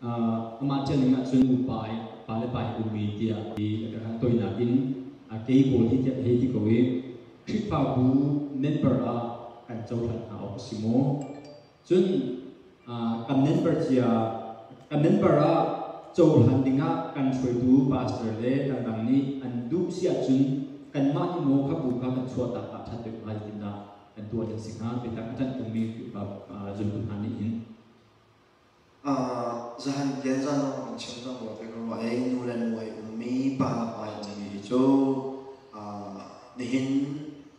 Amah ṭialning ahcun nupa pale pa hi ummi tiah ti a ka hngalh tawi nain a kei pawl hi tiah hei ti ko i Khrihfabu member ah kan cohlan hna awk a si maw? Cun kan member cia kan member ah cohlan dingah kan hruaitu pastor le kan dang nih an duh si ahcun kanmah nih maw kha bu kha kan chuahtak aa ṭhat deuh hnga zeitindah kan tuah ding a si hnga biatak a ṭanh tungmi Khrihfabu zultu hna nih hin Zahan tian zaan lawngawng in chim zong ruah ve ko rua i nu le nu ai ummi pa le pa an simi hi cu nihin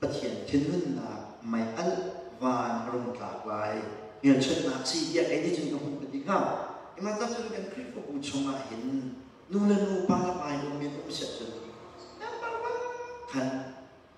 Pathian thinhunnak mei alh van a rung tlak lai. Hmelchunhnak si tiah kei nih cun ka hmuh ka ti hnga. Ihmaantak cu kan Khrihfabu chungah hin nu le nu, pa le pa in um in um siah cun khan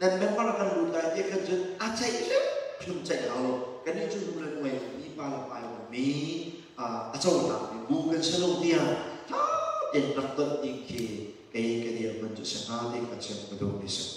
nan member kan lut lai ti khan cun a ceih hrim ceih lo kannih cu nu le nuai lo mipa le pa lo mi a conak mi bu kan si lo tiah fa tein rak ton ding khi kei ka dir man cu si hnga ti kha chiat ka duh mi si.